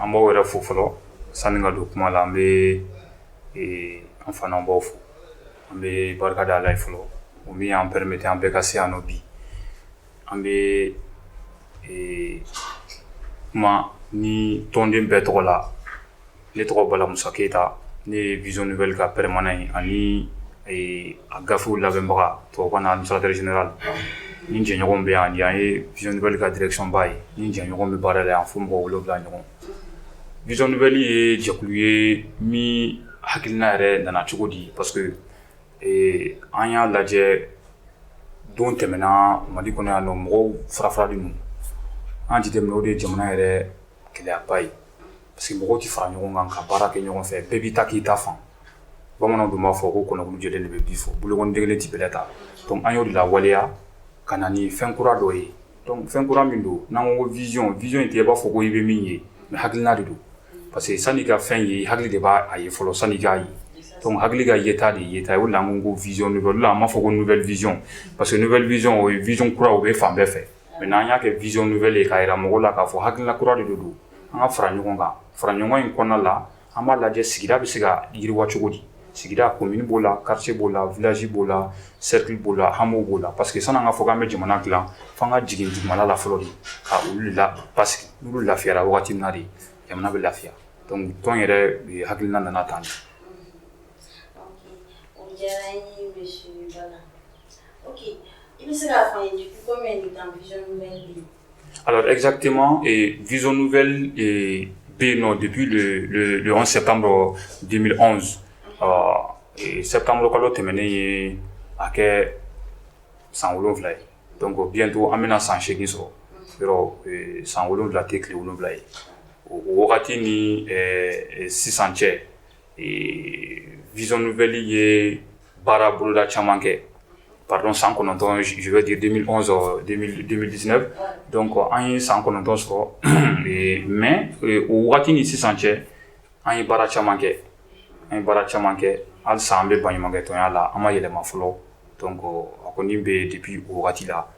An b'aw yɛrɛ fo fɔlɔ sani an ka don kuma la an bɛ an fana b'aw fo an bɛ barika da ala ye fɔlɔ o min y'an permettre an bɛɛ ka se yan nɔ bi An bɛ kuma ni tɔnden bɛɛ tɔgɔ la ne tɔgɔ balamusa keyita ne ye Vision Nouvelle ka permanent ye ani a gafew labɛnbaga tɔgɔsaresi la ni jɛɲɔgɔn bɛ yan yan ye Vision Nouvelle ka direction ba ye ni jɛɲɔgɔn bɛ baara la yan fo mɔgɔ wolo wolonwula ɲɔgɔn Vision Nouvelle ye jɛkulu ye min hakilina yɛrɛ nana cogo di pa Ee an y'a lajɛ don tɛmɛna mali kɔnɔ yan nɔ mɔgɔw farafarali ninnu an y'a jateminɛ o de ye jamana yɛrɛ gɛlɛyaba ye parce que mɔgɔw tɛ fara ɲɔgɔn kan ka baara kɛ ɲɔgɔn fɛ bɛɛ b'i ta k'i ta fan bamananw tun b'a fɔ ko kɔnɔ kulu jɛlen de bɛ bii fɔ bolokɔnden kelen tɛ bɛlɛ ta donc an y'o de lawaleya ka na ni fɛn kura dɔ ye Donc fɛn kura min don n'an ko vision vision in tɛ i b'a fɔ ko i bɛ min ye mais hakilina de don parce que sani i ka fɛn ye hakili de b'a ye fɔlɔ sani i k'a ye donc hakili ka yeta de yeta o la ko vision a b'a fɔ ko nouvelle vision o ye vision kura o bɛ fan bɛɛ fɛ mais n'an y'a kɛ Vision Nouvelle k'a jira mɔgɔ la k'a fɔ hakilina kura de don an ka fara ɲɔgɔn kan fara ɲɔgɔn in kɔnɔna la An b'a lajɛ sigida bɛ se ka yiriwa cogo di sigida commune b'o la quartier b'o la village b'o la cercle b'o la hameau b'o la parce que sani k'a fɔ an bɛ jamana dila fo an ka jigin dugumana la fɔlɔ de ka olu la pa olu lafiya waati na de jamana bɛ lafiya tɔn yɛrɛ hakilina nana tan Alors exactement, et Vision Nouvelle bɛ yen nɔ, depuis le, le, le 11 septembre 2011, euh, et septembre kalo tɛmɛnen ye a kɛ san wolonwula ye donc bientôt an bɛna san seegin sɔrɔ yɔrɔ san wolonwula tɛ tile wolonwula ye o wagati ni sisan cɛ vision nouvelle ye Baara boloda caman kɛ pardon san kɔnɔntɔn je veux dire 2011 ɔɔ 2000 2019 donc an ye san kɔnɔntɔn sɔrɔ ee mais o waati ni sisan cɛ an ye baara caman kɛ an ye baara caman kɛ halisa an bɛ baɲumakɛtɔnya la an ma yɛlɛma fɔlɔ donc a kɔni bɛ yen depuis o waati la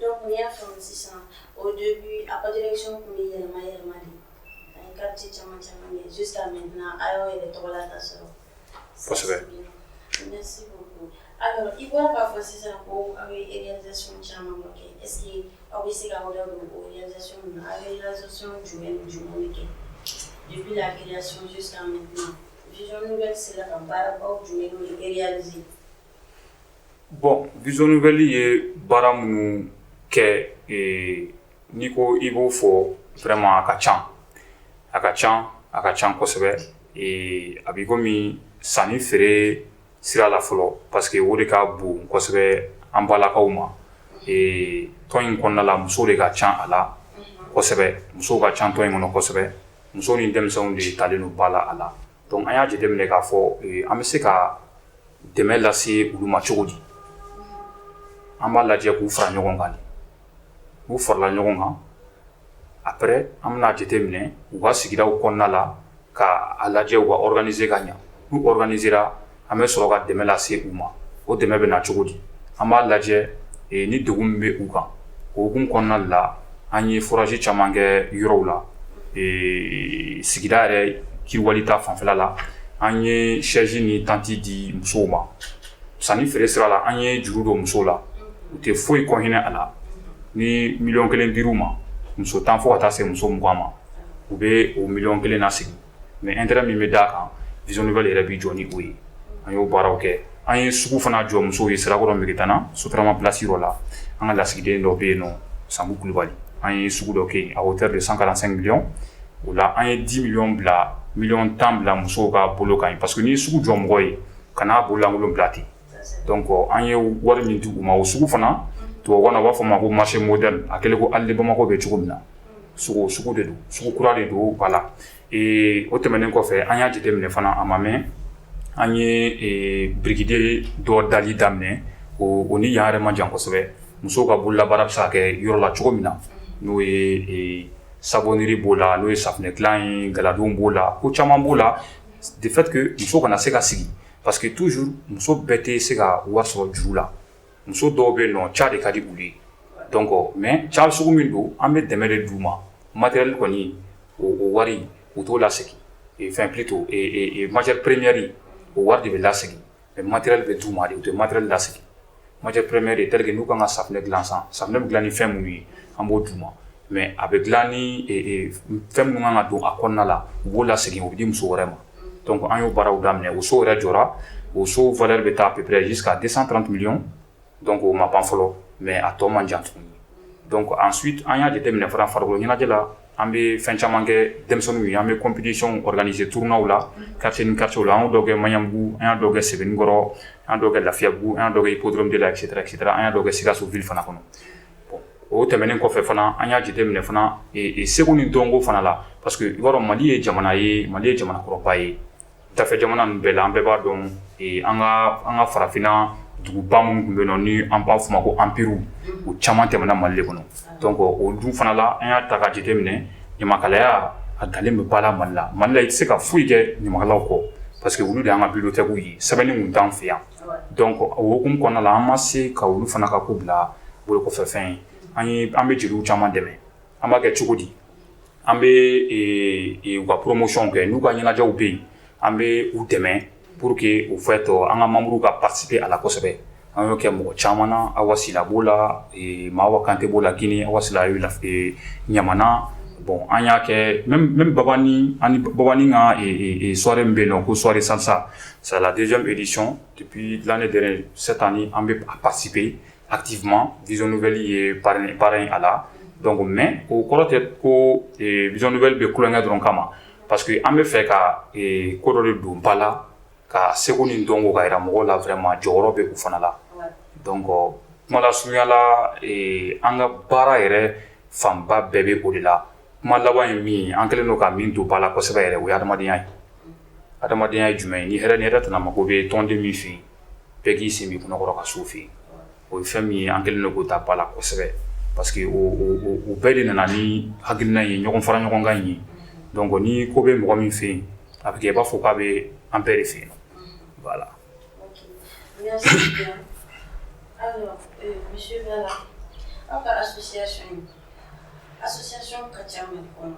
Dɔw tun y'a fɔ sisan o de a ka direction tun bɛ yɛlɛma yɛlɛma de a ye quartier caman caman ye su san mɛ na a y'a yɛrɛ tɔgɔ la ka sɔrɔ kosɛbɛ i ko k'a fɔ sisan ko aw bɛ réalisation caman ma kɛ e aw bɛ se ka aw don o ye réalisation jumɛn ni jumɛn kɛ i bɛ réalisation san mɛ na bɛ se ka baarabagaw jumɛn ye eriya Bon Vision Nouvelle ye baara minnu kɛ n'i ko i b'o fɔ vraiment a ka ca a ka ca a ka ca kosɛbɛ a bɛ i komi sanni feere sira la fɔlɔ parce que o de ka bon kosɛbɛ an balakaw ma tɔn in kɔnɔna la musow de ka ca a la kosɛbɛ musow ka ca tɔn in kɔnɔ kosɛbɛ muso ni denmisɛnw de talen don ba la a la Donc an y'a jate minɛ k'a fɔ an bɛ se ka dɛmɛ lase olu ma cogo di an b'a lajɛ k'u fara ɲɔgɔn kan n'u farala ɲɔgɔn kan après an b'a jate minɛ u ka sigida kɔnɔna la k'a lajɛ u ka organisé ka ɲɛ n'u organiséra an bɛ sɔrɔ ka dɛmɛ lase u ma o dɛmɛ bɛ na cogo di an b'a lajɛ ni dɛgun min bɛ u kan o hukumu kɔnɔna la an ye forage caman kɛ yɔrɔw la sigida yɛrɛ yiriwali ta fanfɛla la an ye chaise ni tente di musow ma sanni feere sira la an ye juru don musow la u tɛ foyi kɔ hinɛ a la ni miliyɔn kelen dira muso tan fɔ ka taa se muso mugan ma u bɛ o miliyɔn kelen nasegin mais intérêt min bɛ d'a kan Vision Nouvelle yɛrɛ bɛ jɔ ni o ye an y'o baaraw kɛ an ye sugu fana jɔ musow ye Sirakɔrɔ Megetana sotrama place dɔ la an ka lasigiden dɔ bɛ yen nɔ Sanbu Kulubali an ye sugu dɔ kɛ à hauteur de 145 millions o la an ye 10 millions bila miliyɔn tan bila musow ka bolo kan yen parce que n'i ye sugu jɔ mɔgɔ ye ka n'a bololankolon bila ten Donc an ye wari min d'u ma o sugu fana tubabukan na b'a fɔ ma ko marché moderne a kɛlen ko Halles Bamakɔ bɛ cogo min na cogo sugu de don sugu kura de don voilà ee o tɛmɛnen kɔfɛ an y'a jate minɛ fana a ma mɛɛn an ye bide dɔ dali daminɛ o ni yan yɛrɛ man jan kosɛbɛ musow ka bolola baara bɛ se kɛ yɔrɔ la cogo min na n'o ye savonnerie b'o la n'o ye safunɛ dilan ye galadon b'o la ko caman b'o la de fait que muso kana se ka sigi parce que toujours muso bɛɛ tɛ se ka wari sɔrɔ juru la muso dɔw bɛ yen nɔ ca de ka di u ye donc mais ca sugu min don an bɛ dɛmɛ de d'u ma matériel kɔni o wari u t'o lasegin enfin plutôt matière première o wari de bɛ lasegin mais matériel bɛ d'u ma de u tɛ matériel lasegin Matière première est telle que n'u ka kan ka safunɛ dilan sisan, safunɛ bɛ dilan ni fɛn minnu ye, an b'o d'u ma mais a bɛ dilan ni fɛn minnu ka kan ka don a kɔnɔna la, u b'o lasegin o bɛ di muso wɛrɛ ma donc an y'o baaraw daminɛ o so yɛrɛ jɔra, o so valeur bɛ taa à peu près jusqu'à 230 millions donc o ma ban fɔlɔ mais a tɔ man jan tuguni donc ensuite an y'a jateminɛ fana farikolo ɲɛnajɛ la an bɛ fɛn caman kɛ denmisɛnninw ye an bɛ compétition organisé tournois la quartier ni quartier la an y'o dɔ kɛ Maɲanbugu an y'a dɔ kɛ Sebenikɔrɔ an y'a dɔ kɛ Lafiyabugu an y'a dɔ kɛ Hippodrome de la etc etc an y'a dɔ kɛ Sikasso ville fana kɔnɔ bon o tɛmɛnen kɔfɛ fana an y'a jateminɛ fana seko ni dɔnko fana la parce que i b'a dɔn Mali ye jamana ye Mali ye jamana kɔrɔba ye Dafɛ jamana ninnu bɛɛ la an bɛɛ b'a dɔn an ka an ka farafinna duguba minnu tun bɛ yen nɔ ni an b'a fɔ o ma ko empirew o caman tɛmɛna mali kɔnɔ donc o dun fana la an y'a ta ka jateminɛ ɲamakalaya a donlen bɛ ba la mali la mali la i tɛ se ka foyi kɛ ɲamakalaw kɔ parce que olu de y'an ka bibliothèques ye sɛbɛnni tun t'an fɛ yan donc o hukumu kɔnɔna la an ma se ka olu fana ka ko bila bolokɔfɛfɛn ye an bɛ jeliw caman dɛmɛ. An b'a kɛ cogo di an bɛ ka poromosiyɔn kɛ n'u ka ɲɛnajɛɛnɛw bɛ yen an bɛ u dɛmɛ pur que u fɛ tɔ an ka mamuru ka pasi a kosɛbɛ an y'o kɛ mɔgɔ caman na a wasila b'o la maa kante b'o la ginin wasila ɲamana bɔn an y'a kɛ n ka sɔɔri bɛ yen ko sɔɔri sansa saladencɔn dilanen de se tan ni an bɛ pasibe yen activement vision nouvelle ye parrain parrain a la donc mais o kɔrɔ tɛ ko ee vision nouvelle bɛ tulonkɛ dɔrɔn kama parce que an b'a fɛ ka ee ko dɔ de don ba la ka seko ni dɔnko ka jira mɔgɔw la vraiment jɔyɔrɔ bɛ u fana la donc kuma lasurunya la ee an ka baara yɛrɛ fanba bɛɛ bɛ o de la kuma laban ye min ye an kɛlen don ka min don ba la kosɛbɛ yɛrɛ o ye hadamadenya ye hadamadenya ye jumɛn ye ni hɛrɛ ni hɛrɛ tana mago bɛ tɔnden min fɛ yen bɛɛ k'i sen b'i kɔnɔkɔrɔ ka s'o fɛ yen o ye fɛn min ye an kɛlen don k'o ta ba la kosɛbɛ parce que o bɛɛ de nana ni hakilina ye ɲɔgɔn fara ɲɔgɔn kan in ye donc ni ko bɛ mɔgɔ min fɛ yen a bɛ kɛ i b'a fɔ k'a bɛ an bɛɛ de fɛ yen voilà Alors, euh, monsieur Bala, aw ka association in, association ka ca Mali kɔnɔ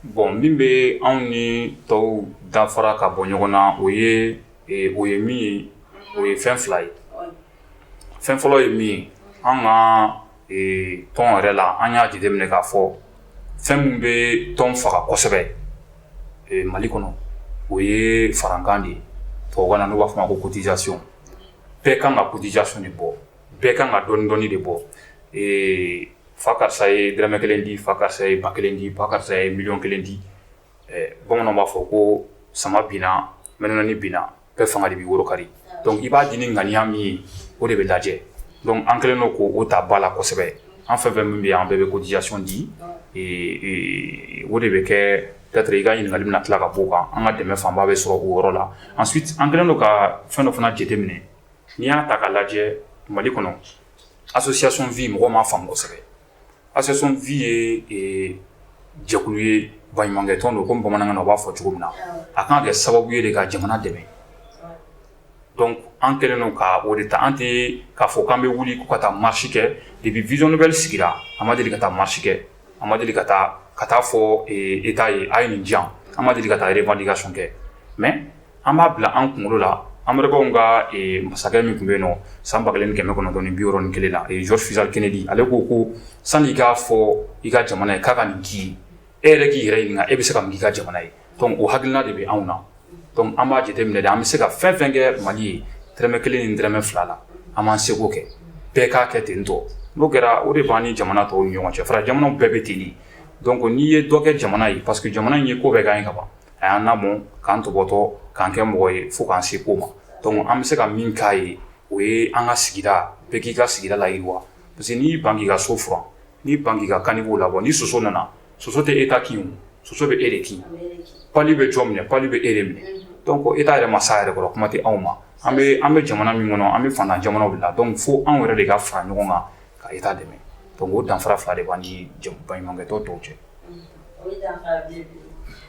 Bon min bɛ anw ni tɔw danfara ka bɔ ɲɔgɔn na o ye o ye min ye o ye fɛn fila ye fɛn fɔlɔ ye min ye an ka tɔn yɛrɛ la an y'a jate minɛ k'a fɔ fɛn min bɛ tɔn faga kosɛbɛ mali kɔnɔ o ye farankan de ye tubabukan na n'i b'a fɔ a ma ko cotisation bɛɛ kan ka cotisation de bɔ, bɛɛ kan ka dɔɔni dɔɔni de bɔ. Ee fa karisa ye dɔrɔmɛ 1 di, fa karisa ye ba 1 di, ba karisa ye million 1 di. Ɛɛ bamananw b'a fɔ ko sama binna mɛnɛnani binna bɛɛ fanga de b'i woro kari. Donc i b'a di ni ŋaniya min ye, o de bɛ lajɛ. Donc an kɛlen don k'o ta ba la kosɛbɛ. An fɛn fɛn min bɛ yan, an bɛɛ bɛ cotisation di. Ee o de bɛ kɛ Katɛri i ka ɲininkali bɛna tila ka b'o kan an ka dɛmɛ fanba bɛ sɔrɔ o yɔrɔ la ensuite an kɛlen don ka fɛn dɔ fana jateminɛ n'i y'a ta ka lajɛ Mali kɔnɔ association vie mɔgɔw m'a faamu kosɛbɛ association vie ye jɛkulu ye baɲumankɛ tɔn don komi bamanankan na u b'a fɔ cogo min na a kan ka kɛ sababu ye de ka jamana dɛmɛ donc an kɛlen don ka o de ta an tɛ k'a fɔ k'an bɛ wuli ko ka taa marche kɛ depuis vision nouvelle sigira an ma deli ka taa marche kɛ an ma deli ka taa ka taa fɔ État ye a ye nin di yan an ma deli ka taa revendication kɛ mais an b'a bila an kunkolo la anbaww ka masakɛ min tun bɛ yen nɔ san ba kelen kɛmɛ kɔnɔntɔn ni biwɔɔrɔ ni kelen la ye John Fitzgerald Kennedy ale ko ko sanni i k'a fɔ i ka jamana ye k'a ka nin k'i ye e yɛrɛ k'i yɛrɛ ɲininka e bɛ se ka mun k'i ka jamana ye donc o hakilina de bɛ anw na donc an b'a jateminɛ de an bɛ se ka fɛn fɛn kɛ mali ye dɔrɔmɛ kelen ni dɔrɔmɛ fila la an b'an seko kɛ bɛɛ k'a kɛ ten tɔ n'o kɛra o de b'an ni jamana tɔw ni ɲɔgɔn cɛ fara jamana bɛɛ bɛ ten de donc n'i ye dɔ kɛ jamana ye parce que jamana in ye ko bɛɛ k'an ye ka ban a y'an lamɔ k'an tɔpɔtɔ k'an kɛ mɔgɔ ye fo k'an se ko ma donc an bɛ se ka min k'a ye o ye an ka sigida bɛɛ k'i ka sigida layiriwa parce que n'i ban k'i ka so furan n'i ban k'i ka caniveau labɔ ni soso nana Soso tɛ État kin soso bɛ e de kin pali bɛ jɔn minɛ pali bɛ e de minɛ donc État yɛrɛ ma s'a yɛrɛ kɔrɔ kuma tɛ anw ma an bɛ an bɛ jamana min kɔnɔ an bɛ faantan jamana de la donc fo anw yɛrɛ de ka fara ɲɔgɔn kan ka État dɛmɛ donc o danfara fila de b'an ni baɲumankɛtɔn tɔw cɛ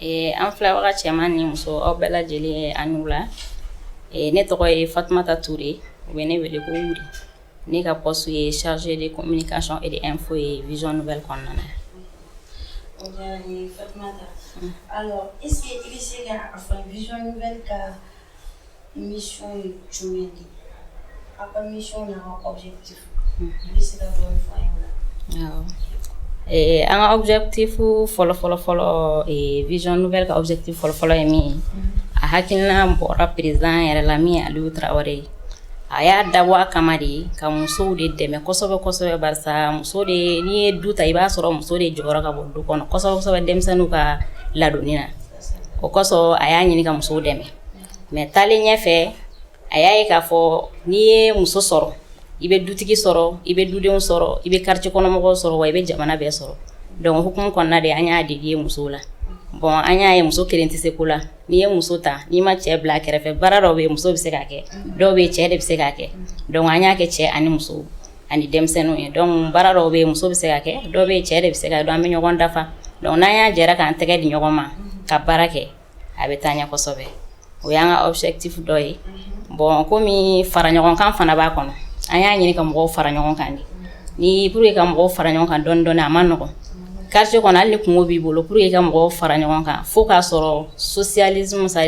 Ee an fila cɛ ni muso aw bɛɛ lajɛlen an wula ne tɔgɔ ye fatumata tu de ye u bɛ ne wele ko ne ka pɔso ye sariyae de ko min ka sɔn e de fɔ ye v bɛ kɔnɔna na Mission ye jumɛn de ye? Aw ka mission n'a ka objectif i bɛ se ka dɔɔni fɔ an ye o la? Awɔ, ɛɛ an ka objectif fɔlɔ fɔlɔ fɔlɔ ɛɛ vision nouvelle ka objectif fɔlɔ fɔlɔ ye min ye, a hakilina bɔra président yɛrɛ la min ye Alu Tarawele ye, a y'a dabɔ a kama de ka musow de dɛmɛ kosɛbɛ kosɛbɛ barisa muso de n'i ye du ta i b'a sɔrɔ muso de jɔyɔrɔ ka bon du kɔnɔ kosɛbɛ kosɛbɛ denmisɛnninw ka ladonni na, o kosɔn a y'a ɲini ka musow dɛmɛ mais taalen ɲɛ fɛ a y'a ye k'a fɔ n'i ye muso sɔrɔ i bɛ dutigi sɔrɔ i bɛ dudenw sɔrɔ i bɛ quartier kɔnɔmɔgɔ sɔrɔ wa i bɛ jamana bɛɛ sɔrɔ donc o hukumu kɔnɔna de an y'a de ye muso la bon an y'a ye muso kelen tɛ se ko la n'i ye muso ta n'i ma cɛ bila kɛrɛfɛ baara dɔw bɛ muso bɛ se ka kɛ dɔw bɛ cɛ de bɛ se ka kɛ donc an y'a kɛ cɛ ani muso ani denmisɛnninw ye donc baara dɔw bɛ muso bɛ se ka kɛ dɔw bɛ cɛ de bɛ se ka donc an bɛ ɲɔgɔn dafa donc n'an y'a jɛra k'an tɛgɛ di ɲɔgɔn ma ka baara kɛ a bɛ taa ɲɛ kosɛbɛ o y'an ka objectif dɔ ye bɔn kɔmi fara ɲɔgɔnkan fana b'a kɔnɔ an y'a ɲini ka mɔgɔw fara ɲɔgɔn kan de ni pour ka mɔgɔw fara ɲɔgɔn kan dɔɔnin dɔɔnin a man nɔgɔ kartiye kɔnɔ hali ni kunko b'i bolo pour ka mɔgɔw fara ɲɔgɔn kan fo k'a sɔrɔ sosiyali musa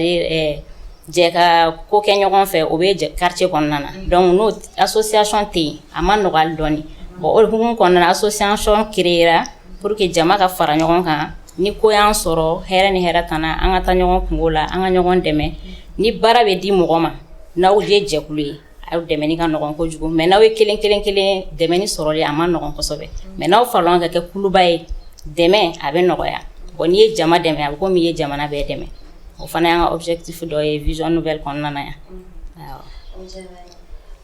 jɛ ka ko kɛ ɲɔgɔn fɛ o bɛ kartiye kɔnɔna na donc n'o association tɛ yen a man nɔgɔ dɔɔnin bɔn o hukumu kɔnɔna association kɛra pour que jama ka fara ɲɔgɔn kan ni ko y'an sɔrɔ hɛrɛ ni hɛrɛtana an ka taa ɲɔgɔn kunko la an ka ɲɔgɔn dɛmɛ ni baara bɛ di mɔgɔ ma n'aw ye jɛkulu ye aw dɛmɛ ka nɔgɔn kojugu mɛ n'aw ye kelen kelen kelen dɛmɛ sɔrɔ a man nɔgɔn kosɛbɛ mɛ n'aw fara ɲɔgɔn kan ka kɛ kuluba ye dɛmɛ a bɛ nɔgɔya o n'i ye jama dɛmɛ a kɔmi i ye jamana bɛɛ dɛmɛ o fana y'an ka objectif dɔ ye vision nouvelle kɔnɔna yan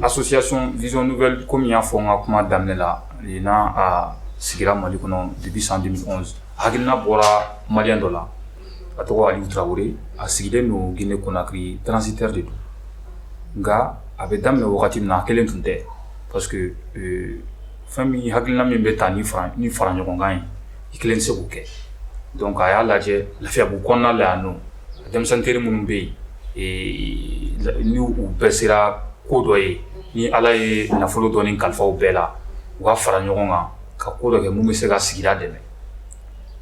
Association vision nouvelle kɔmi n y'a fɔ n ka kuma daminɛ la nin n a sigira mali kɔnɔ deux mille onze hakilina bɔra malien dɔ la a tɔgɔ ali tarawele a sigilen don ginɛ konakiri transitaire de don nka a bɛ daminɛ wagati min na a kelen tun tɛ parce que fɛn min hakilina min bɛ taa ni fara ɲɔgɔnkan ye i kelen tɛ se k'o kɛ donc a y'a lajɛ lafiyabugu kɔnɔna la yan don denmisɛn teri minnu bɛ yen ni u bɛɛ sera ko dɔ ye ni ala ye nafolo dɔɔnin kalifa u bɛɛ la u ka fara ɲɔgɔn kan ka ko dɔ kɛ minnu bɛ se ka sigida dɛmɛ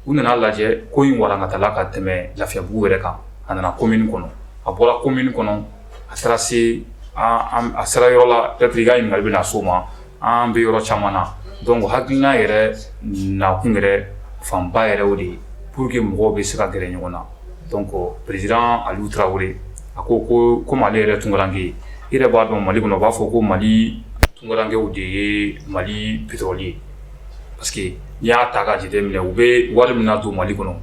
u nana lajɛ ko in walankatala ka tɛmɛ lafiyabugu yɛrɛ kan a nana komini kɔnɔ a bɔra komini kɔnɔ a taara se a sera yɔrɔ la peut-être i ka ɲininkali bɛna na s'o ma An bɛ yɔrɔ caman na donc hakilina yɛrɛ nakun yɛrɛ fanba yɛrɛ o de ye pour que mɔgɔw bɛ se ka gɛrɛ ɲɔgɔn na donc président ali tarawele a ko ko ko mali yɛrɛ tunkarankɛ ye i yɛrɛ b'a dɔn mali kɔnɔ u b'a fɔ ko mali tunkarankɛw de ye mali petɔrɔli ye parce que n'i y'a ta ka jate minɛ u bɛ wari min don mali kɔnɔ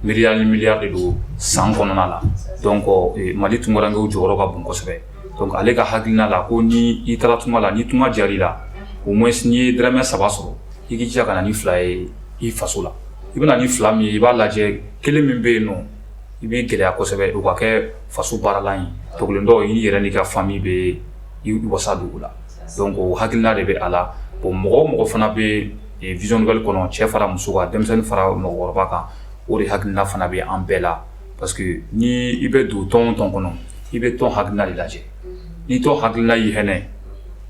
miliyari ni miliyari de don san kɔnɔna la donc mali tunkarankɛw jɔyɔrɔ ka bon kosɛbɛ donc ale ka hakilina la ko ni i taara tunga la ni tunga diyara i la au moins n'i ye dɔrɔmɛ saba sɔrɔ i k'i jija ka na ni fila ye i faso la i bɛna ni fila min ye i b'a lajɛ kelen min bɛ yen nɔ i bɛ gɛlɛya kosɛbɛ o ka kɛ faso baaralan ye tɔ kelen dɔ i y'i yɛrɛ n'i ka famiyi bɛ i wasa don o la donc o hakilina de bɛ a la bon mɔgɔ o mɔgɔ fana bɛ vision nouvelle kɔnɔ cɛ fara muso kan denmisɛnnin fara mɔgɔkɔrɔba kan o de hakilina fana bɛ an bɛɛ la parce que ni i bɛ don tɔn o tɔn kɔnɔ i bɛ tɔn hakilina de lajɛ ni tɔn hakilina y'i hɛnɛ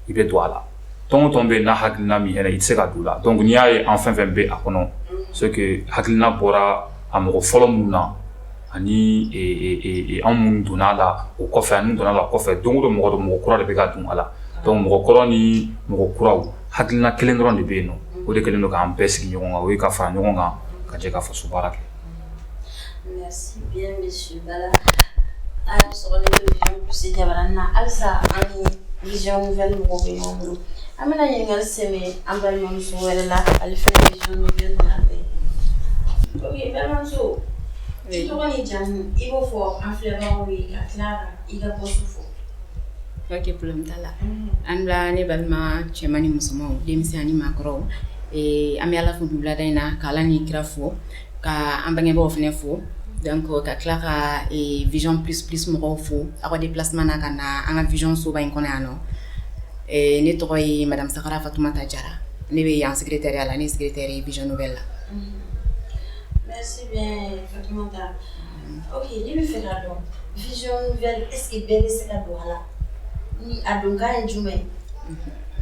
i bɛ don a la tɔn o tɔn bɛ n'a hakilina min i tɛ se ka don a la donc n'i y'a ye an fɛn o fɛn bɛ a kɔnɔ c'est que hakilina bɔra a mɔgɔ fɔlɔ minnu na ani anw minnu donna a la o kɔfɛ ani donna la kɔfɛ don dɔ mɔgɔ mɔgɔ kura de bɛ ka don a la donc mɔgɔ kɔrɔ ni mɔgɔ kuraw hakilina kelen dɔrɔn de bɛ yen nɔ o de kɛlen don k'an bɛɛ sigi ɲɔgɔn kan o ye ka fara ɲɔgɔn kan ka jɛ ka faso baara kɛ An bɛna ɲininka sɛ an balima wɛrɛ la ale jamuta la an ne balima cɛman ni musoman denmisɛnnin ni maakɔrɔ an bɛ ala fo dugu laada in na' ni kira fo ka an bangebaw fana fo dan kɔ ka tila ka vzyɔn p psi mɔgɔw fo aw ka de plasima na ka na an ka vzyɔnsoba in kɔnɔ yan nɔ ne tɔgɔ ye maramisa fatuma ta jara ne bɛ yan sigi tɛ a la ni sigi tɛ vzyɔn bɛ la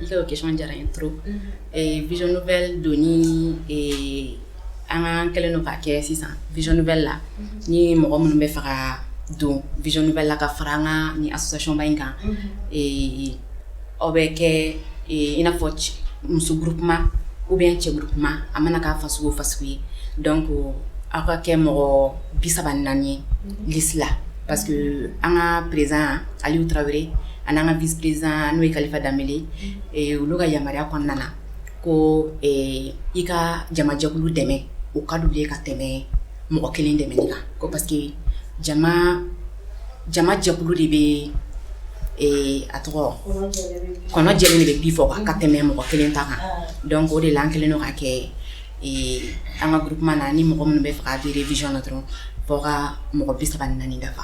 dɔw kec diyara in to vzyɔn bɛ don ni An k'a kɛlen don ka kɛ sisan vision nouvelle la unhun ni mɔgɔ minnu bɛ fɛ ka don vision nouvelle la ka fara an ŋaa nin association ba in kan unhun ee aw bɛ kɛɛ ee i n'a fɔ c muso groupement ou bien cɛ groupement a mana kɛ fasugu o fasugu ye donc aw ka kɛ mɔgɔ 30 ni 4 ye unhun liste la parce que unhun an ŋaa président Aliou Traoré an'an ŋaa vice président n'o ye Kalifa Dembele unhun ee olu ka yamaruya kɔnɔna na ko i ka jamajɛkulu dɛmɛ o ka di u ye ka tɛmɛ mɔgɔ kelen dɛmɛni kan ko parce que jamajɛkulu de bɛ a tɔgɔ kɔnɔjɛ de bɛ bi fɔ an ka tɛmɛ mɔgɔ kelen ta kan donc o de la an kɛlen lo ka kɛ an ka groupement na ni mɔgɔ minnu bɛ fɛ ka adhérer vision na dɔrɔn fo u ka mɔgɔ bi saba ni naani dafa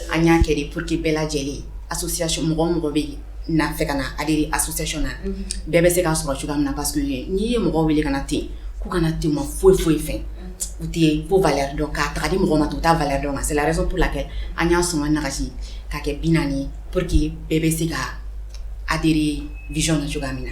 an y'a kɛ de pour que bɛɛ lajɛlen association mɔgɔ o mɔgɔ bɛ yen n'a fɛ ka na adhérer association na bɛɛ bɛ se k'a sɔrɔ cogoya min na parce que n'i ye mɔgɔw wele ka na ten k'u ka na ten u ma foyi foyi fɛ u tɛ ko valeur dɔn k'a ta ka di mɔgɔ ma ten u t'a valeur dɔn c'est la raison pour laquelle an y'a sɔngɔ nagasi ka kɛ 40 ye pour que bɛɛ bɛ se ka adhérer vision na cogoya min na.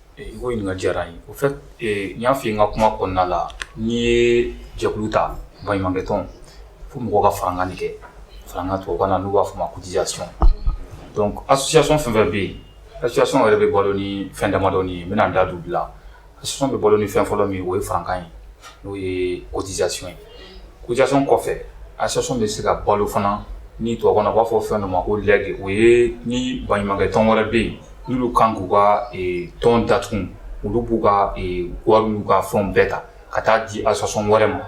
I ka ɲininkali diyara n ye au fait n y'a fɔ i ye n ka kuma kɔnɔna la n'i ye jɛkulu ta baɲumankɛ tɔn fo mɔgɔw ka farankan de kɛ farankan tubabukan na n'u b'a fɔ a ma ko cotisation donc association fɛn o fɛn bɛ yen association yɛrɛ bɛ balo ni fɛn damadɔ ye n bɛna n da don olu la association bɛ balo ni fɛn fɔlɔ min ye o ye farankan ye n'o ye cotisation ye cotisation kɔfɛ association bɛ se ka balo fana ni tubabukan na u b'a fɔ fɛn dɔ ma ko legs o ye ni baɲumankɛ tɔn wɛrɛ bɛ yen Olu kan k'u ka tɔn datugu olu b'u ka wari u ka fɛn bɛɛ ta ka taa di association wɛrɛ ma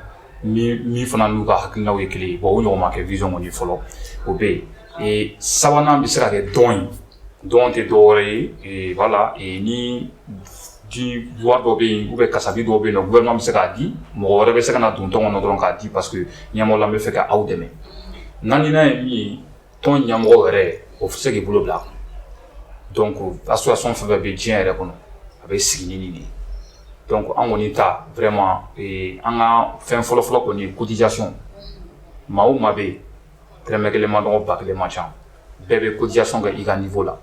min fana n'u ka hakilinaw ye kelen bɔn o ɲɔgɔn ma kɛ vz kɔni fɔlɔ o bɛ yen sabanan bɛ se ka kɛ don donateur dɔw ye wala ni di dɔ bɛ yen organisation dɔw bɛ yen u bɛ bɛ se k'a di mɔgɔ wɛrɛ bɛ se ka na don tɔn kɔnɔ dɔrɔn k'a di parce qu'a b'a fɛ ka aw dɛmɛ naaninan ye min ye Tɔn ɲɛmɔgɔ yɛrɛ o fo se k'i bolo bila a kun donc association fɛn bɛ bɛ diɲɛ yɛrɛ kɔnɔ a bɛ sigi ni de donc an kɔni ta fɛrɛma an ka fɛn fɔlɔfɔlɔ kɔni cotisation maa ma bɛ yen dɔrɔmɛ kelen man dɔgɔ ba kelen man ca bɛɛ bɛ cotisation ka i ka nin fɔ la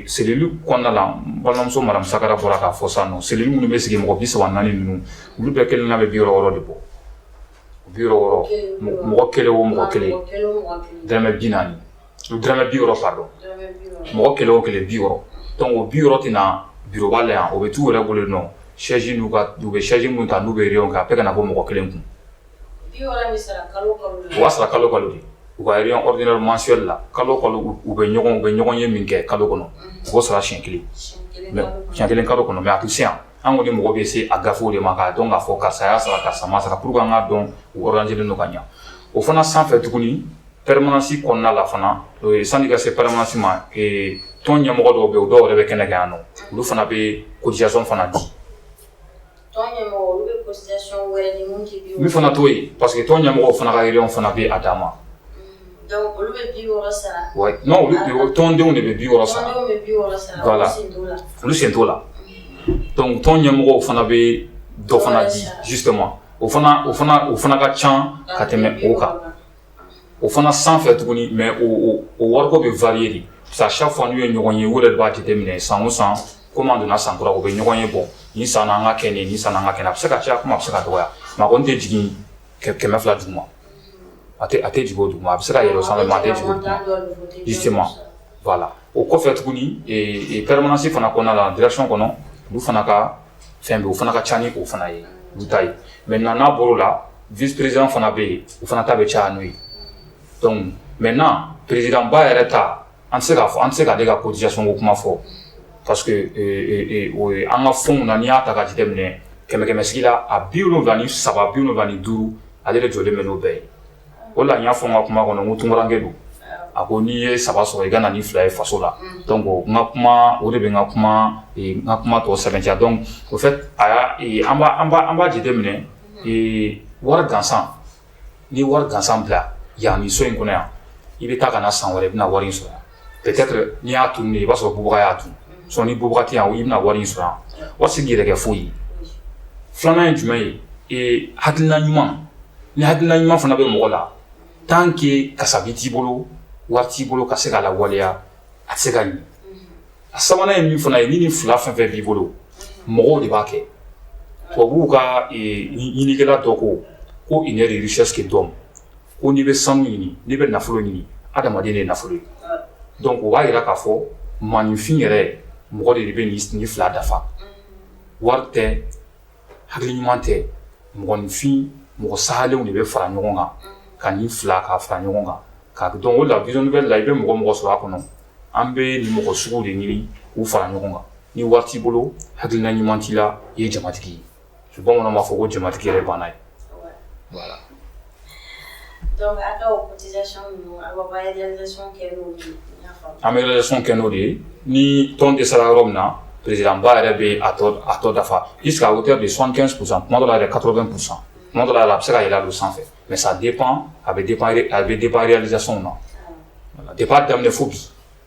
cellule kɔnɔna la balimamuso Masaran bɔra k'a fɔ sisan cellule minnu bɛ sigi mɔgɔ bi saba naani ninnu olu bɛɛ kelen' bɛ bi wɔɔrɔ wɔɔrɔ de bɔ bi mɔgɔ kelen o mɔgɔ kelen dɔrɔmɛ bi naani dɔrɔmɛ bi pardon mɔgɔ kelen o kelen bi donc o bi wɔɔrɔ tɛna na biroba la yan o bɛ to u yɛrɛ bolo nɔ sɛzi u bɛ sɛzi min ta n'u bɛ yen kan a bɛ kana na bɔ mɔgɔ kelen kun o waa sɔrɔ kalo kalo u ka réunion mensuelle la kalo kalo u bɛ ɲɔgɔn bɛ ɲɔgɔn ye min kɛ kalo kɔnɔ o sɔrɔ siɲɛ kelen kalo kɔnɔ mais a tɛ se yan An kɔni mɔgɔ bɛ se a gafew de ma k'a dɔn k'a fɔ karisa y'a sara karisa m'a sara pourquoi an ka tɔn organiselen don ka ɲɛ o fana sanfɛ tuguni permanence kɔnɔna la fana sani i ka se permanence ma tɔn ɲɛmɔgɔ dɔw bɛ yen u dɔw yɛrɛ bɛ kɛnɛ kan yan nɔ olu fana bɛ cotisation fana di olu fana t'o ye parce que tɔn ɲɛmɔgɔw fana ka réunion fana bɛ a dan ma tɔndenw de bɛ bi wɔɔrɔ sara olu sen t'o la tɔn ɲɛmɔgɔ fana bɛ dɔ fana di justement o fana ka ca ka tɛmɛ o kan o fana san fɛ tuguni mais o wariko bɛ varier sa fɔ n'u ye ɲɔgɔn ye u yɛrɛ de b'a déterminer san o san ko donna san kura u bɛ ɲɔgɔn ye bon nin san an ka kɛ nin san an ka kɛ a bɛ se ka caya comme a bɛ se ka dɔgɔya mais a kɔni tɛ jigin kɛmɛ fila duguma a tɛ a tɛ jigin o duguma a bɛ se ka yɛlɛ o sanfɛ mais a tɛ jigin o duguma justement voilà o kɔfɛ tuguni ee permanence fana kɔnɔna la direction kɔnɔ olu fana ka fɛn bɛ yen o fana ka ca ni o fana ye olu ta ye maintenant n'a bɔra o la vice président fana bɛ yen o fana ta bɛ caya n'o ye donc maintenant président ba yɛrɛ ta n tɛ se n tɛ se k'ale ka cotisation ko kuma fɔ parce que an ka fɔ na n y'a ta ka di dɛmɛ kɛmɛkɛmɛsigi la a bi wolonwula ni saba bi wolonwula ni duuru ale de jɔlen bɛ n'o bɛɛ ye o la n y'a fɔ n ka kuma kɔnɔ ko tunkarankɛ don a ko n'i ye saba sɔrɔ i ka na ni fila ye faso la donc n ka kuma o de bɛ n ka kuma n ka kuma tɔ sɛmɛntiya donc o fɛ a y'a an b'a jate minɛ wari gansan Ni wari gansan bila yan ni so in kɔnɔ yan i bɛ taa ka na san wɛrɛ i bɛna wari in sɔrɔ yan peut-être n'i y'a tun i b'a sɔrɔ bagabaga y'a dun sɔn ni bagabaga yan i bɛna wari in sɔrɔ yan wari tɛ se k'i yɛrɛ kɛ foyi ye filanan ye jumɛn ye ee hakilina ɲuman ni hakilina ɲuman fana bɛ mɔgɔ la tan kɛ kasabi t'i bolo wari t'i bolo ka se k'a lawaleya a tɛ se ka ɲɛ A sabanan ye min fana ye ni nin fila fɛn o fɛn b'i bolo mɔgɔw de b'a kɛ tubabu ka ɲinikɛla dɔ ko ko i yɛrɛ recherche kɛ donc ko n'i bɛ sanu ɲini n'i bɛ nafolo ɲini adamaden de nafolo ye donc o b'a jira k'a fɔ maaninfin yɛrɛ mɔgɔ de de bɛ nin fila dafa wari tɛ hakili ɲuman tɛ mɔgɔninfin mɔgɔ salenw de bɛ fara ɲɔgɔn kan ka nin fila ka fara ɲɔgɔn kan donc o la Vision Nouvelle la i bɛ mɔgɔ mɔgɔ sɔrɔ a kɔnɔ an bɛ nin mɔgɔ sugu de ɲini k'u fara ɲɔgɔn kan ni wari t'i bolo hakilina ɲuman t'i la i ye jamatigi ye bamanan b'a fɔ ko jamatigi yɛrɛ baana ye Voilà. Donc, a ka o cotisation ninnu, aw b'aw ka réalisation kɛ n'olu ye, n y'a faamu. An bɛ réalisation kɛ n'o de ye, ni tɔn dɛsɛra yɔrɔ min na, président Ba yɛrɛ bɛ a tɔ a tɔ dafa jusqu'à hauteur de 75 pour cent, tuma dɔ la yɛrɛ 80 pour cent, tuma dɔ la yɛrɛ a bɛ se ka yɛlɛ o sanfɛ mais ça dépend a bɛ dépend a bɛ dépend réalisation na, voilà, depuis a daminɛ fo bi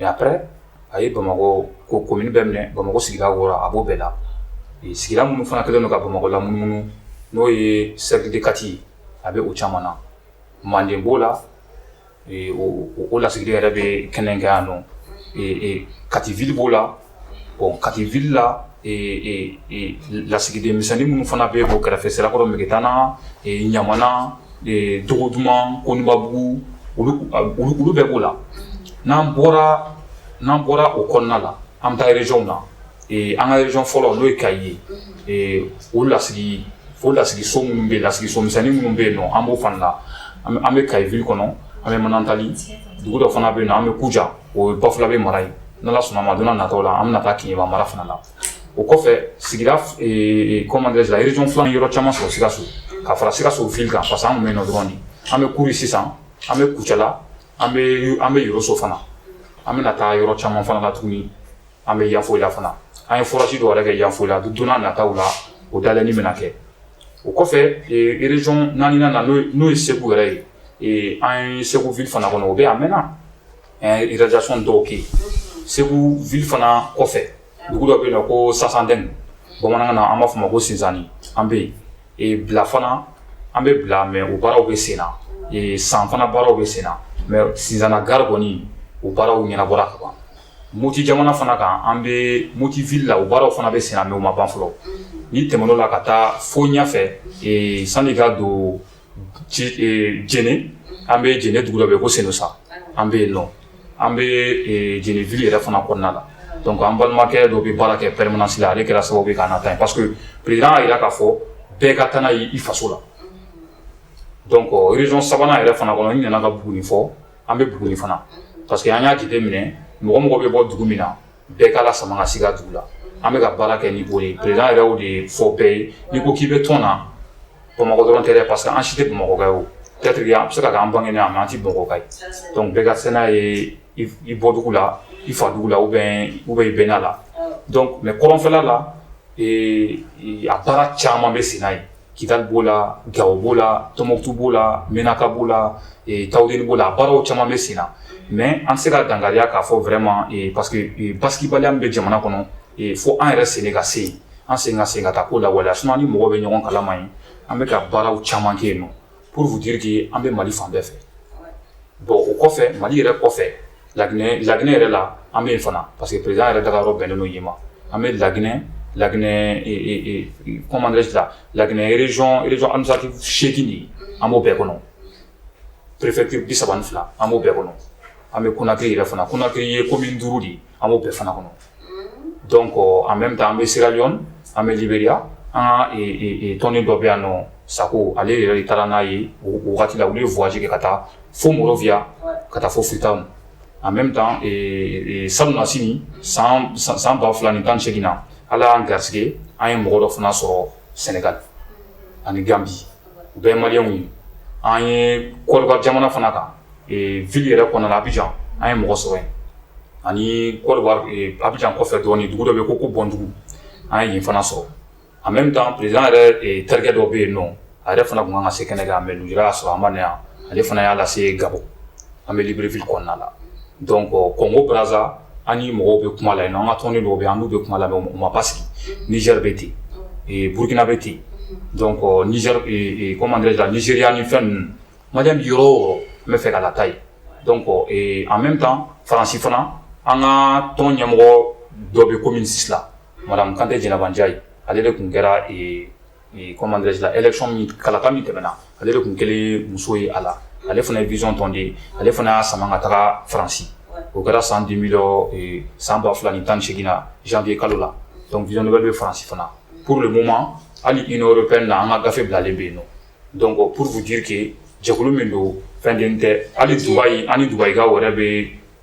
après a ye Bamakɔ ko komini bɛɛ minɛ Bamakɔ sigida wɔɔrɔ a b'o bɛɛ la sigida minnu fana kɛlen don ka Bamakɔ lamunumunu n'o ye cercle de Kati ye a bɛ o caman na manden b'o la o lasigiden yɛrɛ bɛ kɛnɛ in kan yan nɔ Kati ville b'o la Bon kati ville la lasigiden misɛn minnu fana bɛ o kɛrɛfɛ sirakɔrɔ mɛgɛtana ɲamana dogoduman konbabugu olu bɛɛ b'o la n'an bɔra n'an bɔra o kɔnɔna la an bɛ taa régionw na an ka région fɔlɔ n'o ye kaye ye o lasigi o lasigi so minnu bɛ lasigi so misɛnnin minnu bɛ yen an b'o fana la an bɛ kaye kɔnɔ an bɛ manantali dugu dɔ fana bɛ yen na an bɛ kunjan o ye bafulabɛ mara ye n'Ala sɔnn'a ma don nataw la an bɛna taa keɲeba mara fana la o kɔfɛ sigira commencer région filanan yɔrɔ caman sɔrɔ sikaso ka fara sikaso ville kan parce an bɛ nɔ dɔrɔn an bɛ kuru sisan an bɛ kucala an bɛ an bɛ yɔrɔso fana an bɛna taa yɔrɔ caman fana la tuguni an bɛ yanfolila fana an ye forage dɔw yɛrɛ kɛ yanfolila don nataw la o da ni bɛna kɛ o kɔfɛ région naaninan n'o ye segu yɛrɛ ye an ye segu ville fana kɔnɔ o bɛ a mɛn Réalisation dɔw kɛ Segu ville fana kɔfɛ dugu dɔ bɛ yen nɔ ko Sansandin bamanankan na an b'a fɔ o ma ko Sinsanni an bɛ yen, Bila fana an bɛ Bila mais o baaraw bɛ sen na, San fana baaraw bɛ sen na mais Sinzana gare kɔni o baaraw ɲɛnabɔra ka ban, Moti jamana fana kan an bɛ Moti ville la o baaraw fana bɛ sen na mais o ma ban fɔlɔ, n'i tɛmɛn'o la ka taa fo ɲɛfɛ sani i ka don Jɛnɛ an bɛ Jɛnɛ dugu dɔ bɛ ko Senusa an bɛ yen nɔ an bɛ Jɛnɛ ville yɛrɛ fana kɔnɔna la dɔnku an balimakɛ dɔ bɛ baara kɛ permanence la ale kɛra sababu ye k'an ta parce que président y'a jira k'a fɔ bɛɛ ka taa n'a ye i faso la donc région sabanan yɛrɛ fana kɔnɔ i nana ka Buguni fɔ an bɛ Buguni fana parce que an y'a jate minɛ mɔgɔ mɔgɔ bɛ bɔ dugu min na Bɛɛ k'a lasama ka se i ka dugu la an bɛ ka baara kɛ ni bɔ ye président yɛrɛ de y'a fɔ bɛɛ ye n'i ko k'i bɛ tɔn na bamakɔ dɔrɔn tɛ parce que an si tɛ bamakɔka ye o jatigiya an bɛ se k'an bange yan mais an tɛ bamakɔka ye dɔnku bɛɛ ka se n'a ye i bɔdugu la i fa dugu la ou bien ou bien i bɛnna la mais kɔrɔnfɛla la a baara caman bɛ sen na yen Kidali b'o la Gawo b'o la Tɔnbukutu b'o la menaka b'o la Taweleni b'o la a baaraw caman bɛ sen na mais an tɛ se k'a dankɛnɛya k'a fɔ vraiment parce que basigibaliya min bɛ jamana kɔnɔ fo an yɛrɛ sen de ka se yen an sen ka se ka taa k'o lawaleya sinon an ni mɔgɔw bɛ ɲɔgɔn kalama yen an bɛ ka baaraw caman kɛ yen nɔ Pour vous dire que an bɛ mali fan bɛɛ fɛ bon o kɔfɛ mali yɛrɛ kɔfɛ la laginɛ yɛrɛ la an bɛ yen fana parce que président yɛrɛ taga yɔrɔ bɛnnen yen ma an bɛ laginɛ la comment dirais-je laginɛ région seegin de an b'o bɛɛ kɔnɔ préfecture bi saba fila an b'o bɛɛ kɔnɔ an bɛ Conakry yɛrɛ fana Conakry ye commune duuru de ye an b'o bɛɛ fana kɔnɔ donc en même temps an bɛ Sierra Leone an bɛ Liberia an ka tɔnden dɔ bɛ yan nɔ Sako ale yɛrɛ taara n'a ye wagati la u ye voyage kɛ ka taa fo Monrovia ka taa fo Freetown en même temps salonnasini san ba fila ni tan ni seegin na ala y'an garisɛgɛ an ye mɔgɔ dɔ fana sɔrɔ Sénégal ani ganbi u bɛɛ ye maliyɛnw ye, an ye Côte d'Ivoire jamana fana ta ville yɛrɛ kɔnɔna la Abidjan an ye mɔgɔ sɔrɔ yen ani Côte d'Ivoire Abidjan kɔfɛ dɔɔnin dugu dɔ bɛ yen ko ko Bɔndugu an ye yen fana sɔrɔ en même temps président yɛrɛ terikɛ dɔ bɛ yen nɔ a yɛrɛ fana tun ka kan ka se kɛnɛ kan mais lujura y'a sɔrɔ a ma na yan ale fana y'a lase Gabon an bɛ Libreville kɔnɔna la donc Congo Brazza an ni mɔgɔw bɛ kuma la yen an ka tɔnden dɔw bɛ an bɛ kuma la u ma basigi Niger bɛ ten yen burukina bɛ ten yen comment dirais-je Nigeria ni fɛn ninnu ma bɛ yɔrɔ n bɛ fɛ ka lata yen donc en même temps faransi fana an ka tɔn ɲɛmɔgɔ dɔ bɛ commune six la madame Kanté Djénéba N'Diaye ale de tun kɛra comment dirais-je élection kalata min tɛmɛna ale de tun kɛlen muso ye a la ale fana ye vision tɔnden ye ale fana y'a sama ka taga faransi o kɛra san den san ba fila ni tan ni seegin na janvier kalo la dɔnku vision dɔ bɛ bɛ faransi fana pour le moment hali i n'o bɛ na an ka gafe bilalen bɛ yen nɔ donc pour vous dire que jɛkulu min don fɛn den tɛ hali Dubaï ani dubakaw wɛrɛ bɛ yen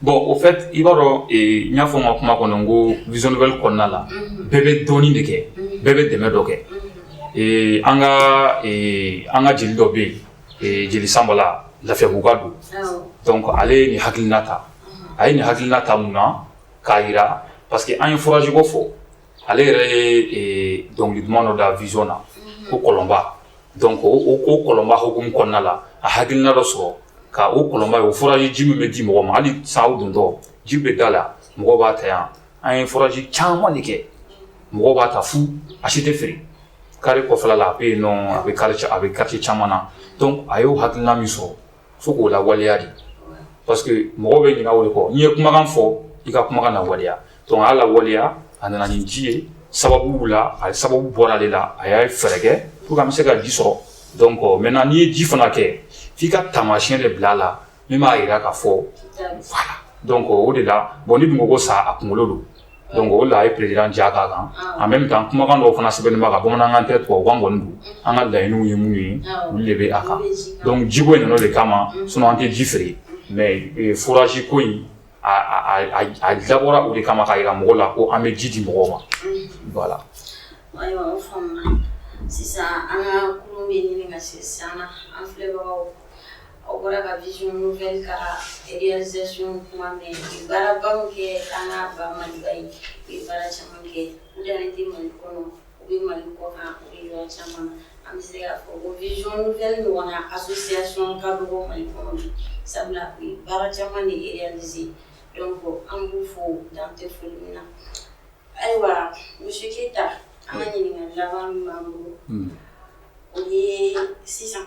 Bon en fait i b'a dɔn n y'a fɔ n ka kuma kɔnɔ n ko vision nouvelle kɔnɔna la bɛɛ bɛ dɔɔnin de kɛ bɛɛ bɛ dɛmɛ dɔ kɛ an ka an ka jeli dɔ bɛ yen jeli Sanba Lafiyabuguka don donc ale ye nin hakilina ta a ye nin hakilina ta mun na k'a jira parce que an ye forage ko fɔ ale yɛrɛ ye dɔnkili duman dɔ da vision na ko kɔlɔnba donc o kɔlɔnba hukumu kɔnɔna la a hakilina dɔ sɔrɔ ka o kɔlɔnba o forage ji min bɛ di mɔgɔ ma hali sa aw dontɔ ji bɛ da la mɔgɔ b'a ta yan an ye forage caman de kɛ mɔgɔ b'a ta fu a si tɛ feere Kati kɔfɛla la a bɛ yen non a bɛ a bɛ quartier caman na donc a y'o hakilina min sɔrɔ fo k'o lawaleya de parce que mɔgɔ bɛ ɲinɛ o de kɔ n'i ye kumakan fɔ i ka kumakan lawaleya donc a y'a lawaleya a nana ni ji ye sababu la a sababu bɔra ale la a y'a fɛɛrɛ kɛ pour que an bɛ se ka ji sɔrɔ donc euh, maintenant n'i ye ji fana kɛ f'i ka taamasiyɛn de bila a la min b'a jira k'a fɔ voilà donc euh, o de la bon n'i dun ko ko sa a kunkolo don donc o la a ye président ja k'a kan en même temps kumakan dɔw fana sɛbɛnnen b'a kan bamanankan tɛ tubabukan kɔni don an ka laɲiniw ye minnu ye olu de bɛ a kan donc jiko in de kama sinon an tɛ ji feere mais forage ko in a dabɔra o de kama k'a jira mɔgɔw la ko an bɛ ji di mɔgɔw ma voilà Aw bɔra ka vision nouvelle ka realisation kuma mɛn, u ye baarabaw kɛ an ka ba Maliba ye, u ye baara caman kɛ, u dannen tɛ Mali kɔnɔ, u bɛ Mali kɔkan, u bɛ yɔrɔ caman, an bɛ se k'a fɔ ko vision nouvelle ɲɔgɔnna association ka dɔgɔ Mali kɔnɔ bi, sabula u ye baara caman de realiser donc an b'u fo dan tɛ foli min na, ayiwa monsieur Keyita, an ka ɲininkali laban min b'an bolo, o ye sisan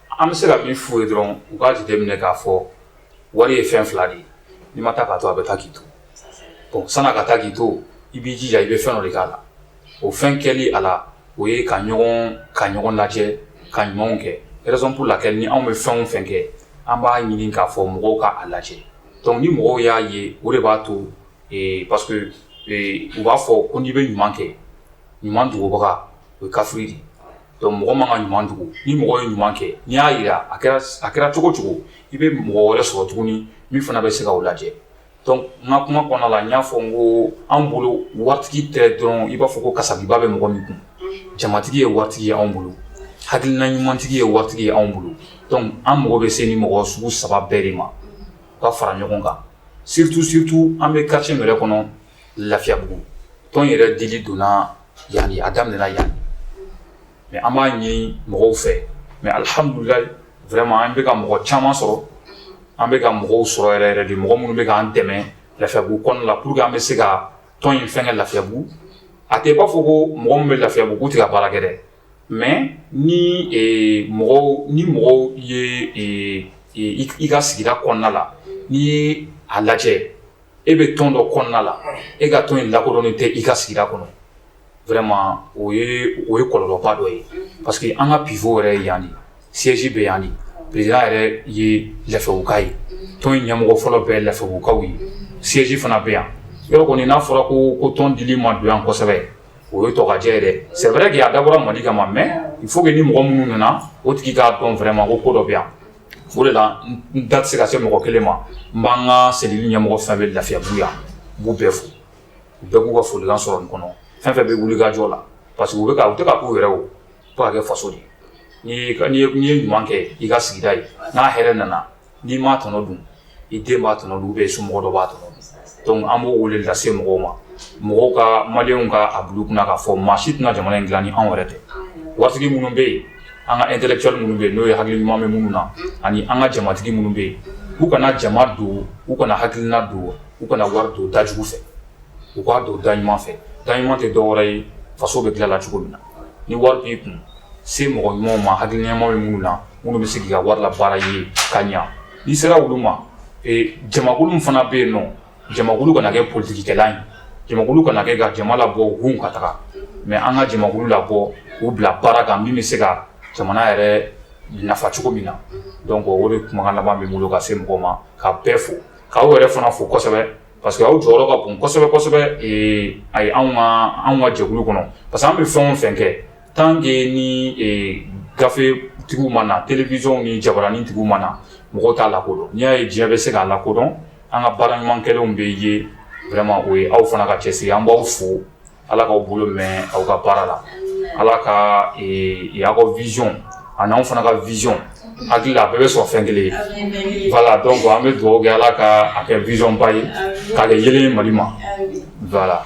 An bɛ se ka min f'u ye dɔrɔn u k'a jateminɛ k'a fɔ wari ye fɛn fila de ye n'i ma taa k'a to a bɛ taa k'i to bon sani a ka taa k'i to i b'i jija i bɛ fɛn dɔ de k'a la o fɛn kɛli a la o ye ka ɲɔgɔn ka ɲɔgɔn lajɛ ka ɲumanw kɛ raison pour laquelle ni anw bɛ fɛn o fɛn kɛ an b'a ɲini k'a fɔ mɔgɔw ka a lajɛ donc ni mɔgɔw y'a ye o de b'a to ee parce que ee u b'a fɔ ko n'i bɛ ɲuman kɛ ɲuman dogobaga o ye kafiri de ye. Donc mɔgɔ man ka ɲuman dogo ni mɔgɔ ye ɲuman kɛ n'i y'a jira a a kɛra cogo cogo i bɛ mɔgɔ wɛrɛ sɔrɔ tuguni min fana bɛ se k'a lajɛ n ka kuma kɔnɔ la n y'a fɔ n ko an bolo wari tɛ dɔrɔn i b'a fɔ ko karisadiba bɛ mɔgɔ min kun jamatigi ye wari ye anw bolo hakilina ɲumantigi ye wari ye anw bolo an mago bɛ se nin mɔgɔ sugu saba bɛɛ de ma ka fara ɲɔgɔn kan surtout surtout an bɛ carême kɔnɔ lafiyabugu tɔn yɛrɛ dili donna yan a daminɛna yan mais an b'a ɲini mɔgɔw fɛ mais alihamdulilayi vraiment an bɛka ka mɔgɔ caman sɔrɔ an bɛka ka mɔgɔw sɔrɔ yɛrɛ yɛrɛ de mɔgɔ minnu bɛ k'an dɛmɛ lafiyabugu kɔnɔna la pour que an bɛ se ka tɔn in fɛn kɛ lafiyabugu a tɛ b'a fɔ ko mɔgɔ min bɛ lafiyabugu tɛ ka baara kɛ dɛ mais ni mɔgɔw ni mɔgɔw ye i ka sigida kɔnɔna la n'i ye a lajɛ e bɛ tɔn dɔ kɔnɔna la e ka tɔn in lakodɔnnen tɛ i ka sigida kɔnɔ vraiment o ye kɔlɔlɔba dɔ ye parce que an ka pfo yɛrɛ yan de siège bɛ yan président yɛrɛ ye lafiyabuguka ye tɔn in ɲɛmɔgɔ fɔlɔ bɛ lafiyabugukaw ye siège fana bɛ yan yɔrɔ kɔni n'a fɔra ko ko tɔn in dili ma don yan kosɛbɛ o ye tɔgɔtiɲɛ yɛrɛ c'est vrai que a dabɔra mali kama mais fo bɛ ni mɔgɔ minnu nana o tigi k'a dɔn vraiment ko ko dɔ bɛ yan O de la n da tɛ se ka se mɔgɔ kelen ma n b'an ka cellule ɲɛmɔgɔ fɛn bɛ lafiyabugu yan n b'u bɛɛ fo u bɛɛ b'u ka folikan sɔrɔ nin kɔnɔ fɛn fɛn bɛ wulikajɔ la parce que u bɛ ka u tɛ k'a k'u yɛrɛ ye u bɛ k'a kɛ faso de ye n'i ye ɲuman kɛ i ka sigida ye n'a hɛrɛ nana n'i m'a tɔnɔ dun i den b'a tɔnɔ dun ou bien i somɔgɔ dɔ b'a tɔnɔ dun donc an b'o wele lase mɔgɔw ma mɔgɔw ka maliyɛnw ka a bila u kunna k'a fɔ maa si tɛna jamana in dilan ni anw yɛrɛ tɛ waritigi minnu bɛ yen an ka intellectuel minnu bɛ yen n'o ye hakili ɲuman bɛ minnu na ani an ka jamatigi minnu bɛ yen u kana jama don u kana hakilina don u kana wari don da jugu fɛ u k'a don da ɲuman fɛ da ɲuman tɛ dɔwɛrɛ ye faso bɛ dilan la cogo min na ni wari b'i kun se mɔgɔ ɲumanw ma hakili ɲuman bɛ minnu na minnu bɛ se k'i ka wari labaara i ye ka ɲa N'i sera olu ma jamakulu fana bɛ yen nɔ jamakulu kana kɛ politikikɛla ye jamakulu kana kɛ ka jama labɔ hu ka taga mais an ka jamakulu labɔ k'u bila baara kan min bɛ se ka jamana yɛrɛ nafa cogo min na donc o de kumakan laban bɛ n bolo ka se mɔgɔ ma ka bɛɛ fo k'aw yɛrɛ fana fo kosɛbɛ parce que aw jɔyɔrɔ ka bon kosɛbɛ a ye anw ka jɛkulu kɔnɔ parce que an bɛ fɛn fɛn kɛ Tant que ni gafetigiw ma na terielebisɔnw ni jain tigi ma na mɔgɔ t'a lakodɔn n'i y'a ye diɲɛ bɛ se k'a lakodɔn an ka baara ɲuman kɛlenw bɛ ye vraiment o ye aw fana ka cɛsiri an b'aw fo ala k'aw bolo mɛn aw ka baara la ala ka aw ka vision ani anw fana ka vision hakili a bɛɛ bɛ sɔrɔ fɛn kelen ye la donc an bɛ dugawu kɛ ala ka a kɛ visionba ye k'a kɛ ye mali ma la